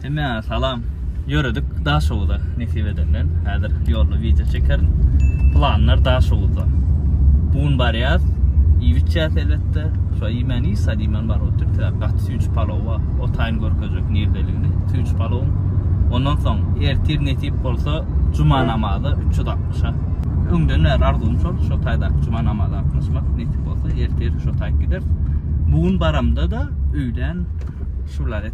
Hemä salam. Ýöredik Daşoguza nesip edenden. Häzir ýolda wideo çekerin. Planlar Daşoguzda. Bu gün barýas. Iýip içýäs elbetde. Şo iýmän iýs, sad iýmän bar otyr. Sebäp gaty süýji palow bar. O taýyn görkezjek nirdeligini. Süýji palowyň. Ondan soň ertir nesip bolsa juma namaza 360-a. Öňden bäri arzuwym şol, şo taýda juma namaza gatnaşmak. Nesip bolsa ertir şo taýyp gideris. Bu gün baramda-da öýlän şu wlaýat.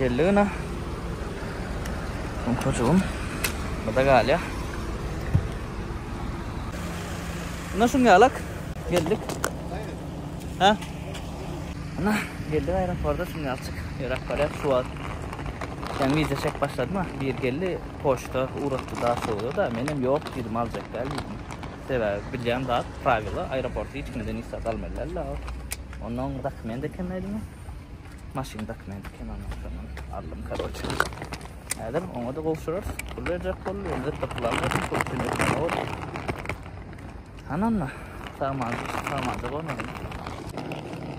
Geldi gyna. Sumkajygym bada galýa. Ina şuň ýalak geldik. Ha? Ina geldik aeroporda şuň ýalçyk ýöräp barýar şu wagt. Sen wiza çek başladyma. Bir geldi poçta ugrutdy da şowda da menem ýok diýdim aljak däl diýdim. Sebäbi bilýän zat prawila aeroporty hiç kimden isläp almaýlar la ol. Ondan dokument ekemeýdimi? Maşyn dokument ekemeýän şondan aldym karoçe. Häzir oňa da gowşurarys. Pul berjek boldy, indi tapylan bolsun, pul üçin etmeli boldy. Hananna, saman, saman da bolmaly.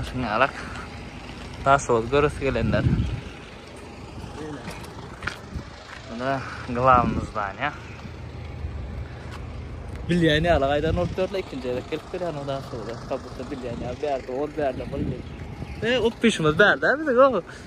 Aşyn alak. Daş ol görüs gelenler. Buna glavimiz var ya. Bilyani ala gaydan olup dörle ikinci yere gelip bir yana daş ol. Kabutta bilyani ala bir yerde ol bir yerde ol. E, o peşimiz bir yerde. Biz o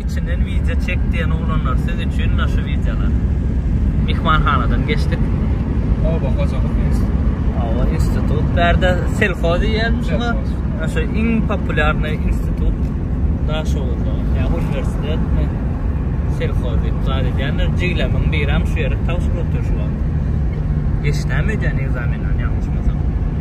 Içinden wideo çek diýen oglanlar siz üçin mine şu wideolar. Myhmanhanadan geçdik. Oba hojalyk instituty. Oba institut. Bärde selhoz diýýän şuňa. Şu iň populýarny institut Daşoguzda. Ýa uniwersitetmi? Selhoz diýip zat edýänler. Jiglemiň birem şu ýere tagşyr otyr şu wagt. Geçdämi öýdýän ekzamenden ýalňyşmasam.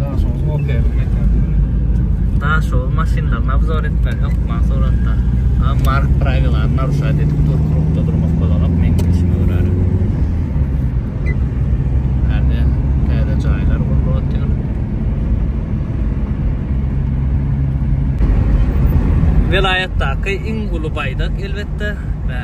Daşoguz Opel-iň mekany. Daşoguz maşynlaryny obzor etmeli hökman suratda. A Mark prawilany naruşat edip dur, krukda durmak bolanok, meň bilşime görä. Herde täze jaýlar gurlup otyr. Welaýatdaky iň uly baýdak elbetde.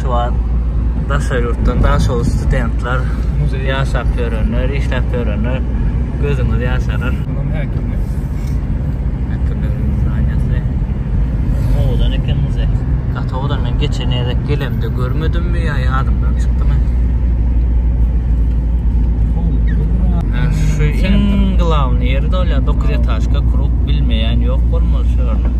Şu wagt daşary ýurtdan daş ol studentler, ýaşap ýörenler, işläp ýörenler gözüňiz ýaşarar. Munam häkimi. Häkimligiň zdanýasy. Owadan eken muzeý. Gaty owadan men geçen gezek gelemde görmedimmi ýa ýadymdan çykdymy? Şu iň glawny ýeri-de ol ýa dokuz etažka kruh bilmeýän ýok bolmaly şu ýerde.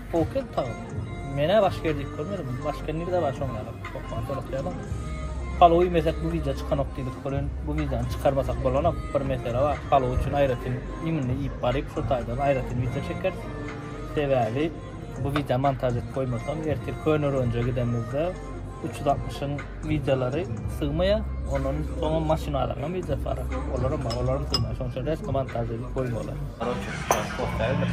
Hokel tag. Menä baş ger diýip görmedim. Baş ger nirde bar şoň ýaly. Okman soratyadym. Palowy meset bu wideo çykanok diýdik. Olen bu wideony çykarmasak bolanok. Bir mesele bar. Palow üçin aýratyn iýmini iýip baryp şo taýdan aýratyn wideo çekeris. Sebäbi bu wideony montaž edip goýmasam ertir köne rönje gidemizde üç ýüz altmyşyň Widelary sygmaýar, ondan soňam maşynalaryňam widesy bar, olaram bar, olaram sygmaýar, şonuň üçin resmi montaž edip goýmalydyr. Koroçe, şu ýaly sport däldir.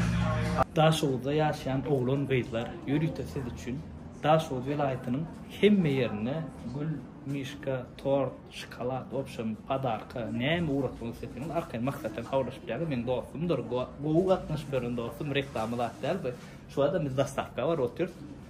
Daşoguzda ýaşaýan oglan gyzlar ýörite siz üçin Daşoguz welaýatynyň hemme ýerinde gül, mişka, tort, şokolad, wobşem podarka näme ugratmak isleseňiz arkaýyn Maksat bilen habarlaşyp bilýäňiz, meniň dostumdyr, gowy gatnaşyp ýören dostum, reklama zat däl bu. Şu ýerde biz dostawka bar otyrys.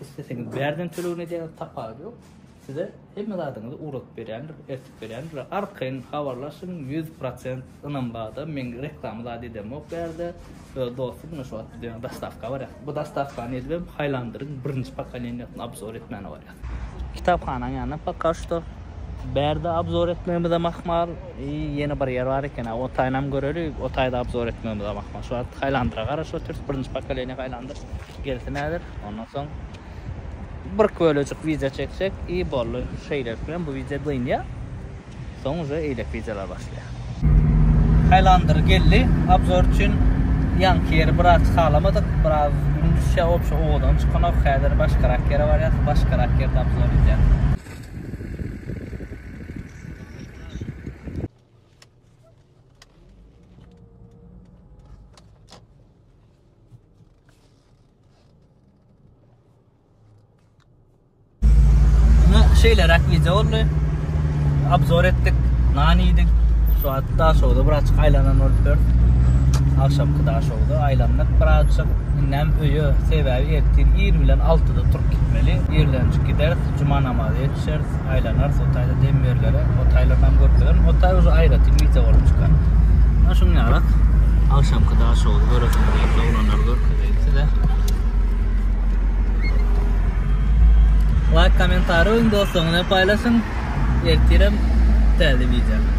Isleseňiz bärden tölegini edýäňiz, tapawudy ýok. Size hemme zadyňyzy ugradyp berýändir, eltip berýändir. Arkaýyn habarlaşyň, ýüz prosent ynam barda. Men reklama zat edemok bu ýerde. Öz dostum muna şu wagt bize ýaňy dostawka barýar. Bu dostawkany edibem Highlander-iň birinji pokoleniýasyny obzor etmäne barýar. Kitaphanaň ýanynda poka şuto bärde obzor etmegimizem ahmal. I ýene bir ýer bar eken-ä, o taýynam göreli, o taýda obzor etmegimiz hem ahmal. Şu wagt Highlander-a garaşyp otyrys, birinji pokoleniýa Highlander. Gelsin häzir. Ondan soň bir kölejik wideo çekjek i bolly. Şeýlelik bilen bu wideo dynýar. Soň uje eýlek wideolar başlaýar. Haýlandyr geldi. Obzor üçin ýaňky ýeri biraz çykalamadyk. Biraz gün düşýär. Obşa owadan çykanok. Häzir başgarak ýere barýas. Başgarak ýerde obzor edýäs. şeýleräk wideo boldy. Obzor etdik, nan iýdik. Şu atda şowda birazçyk aýlanan bolup dur. Agşamky da şowda aýlandyk birazçyk. Indem öýe sebäbi ertir ir bilen 6-da turup gitmeli. Irlenjik gideris, juma namazy Şers aýlanar, Hotaýda dem berlere, Hotaýlar nam görüp biler. Hotaý uje aýratyn mite bolup çykar. Ana şuň ýarak agşamky daş ýoly göresiňiz geldi, oglanlar görkezeýin size. Laýk, kommentariý goýuň dostlaryňyza paýlaşyň. Ertirem täze wideo.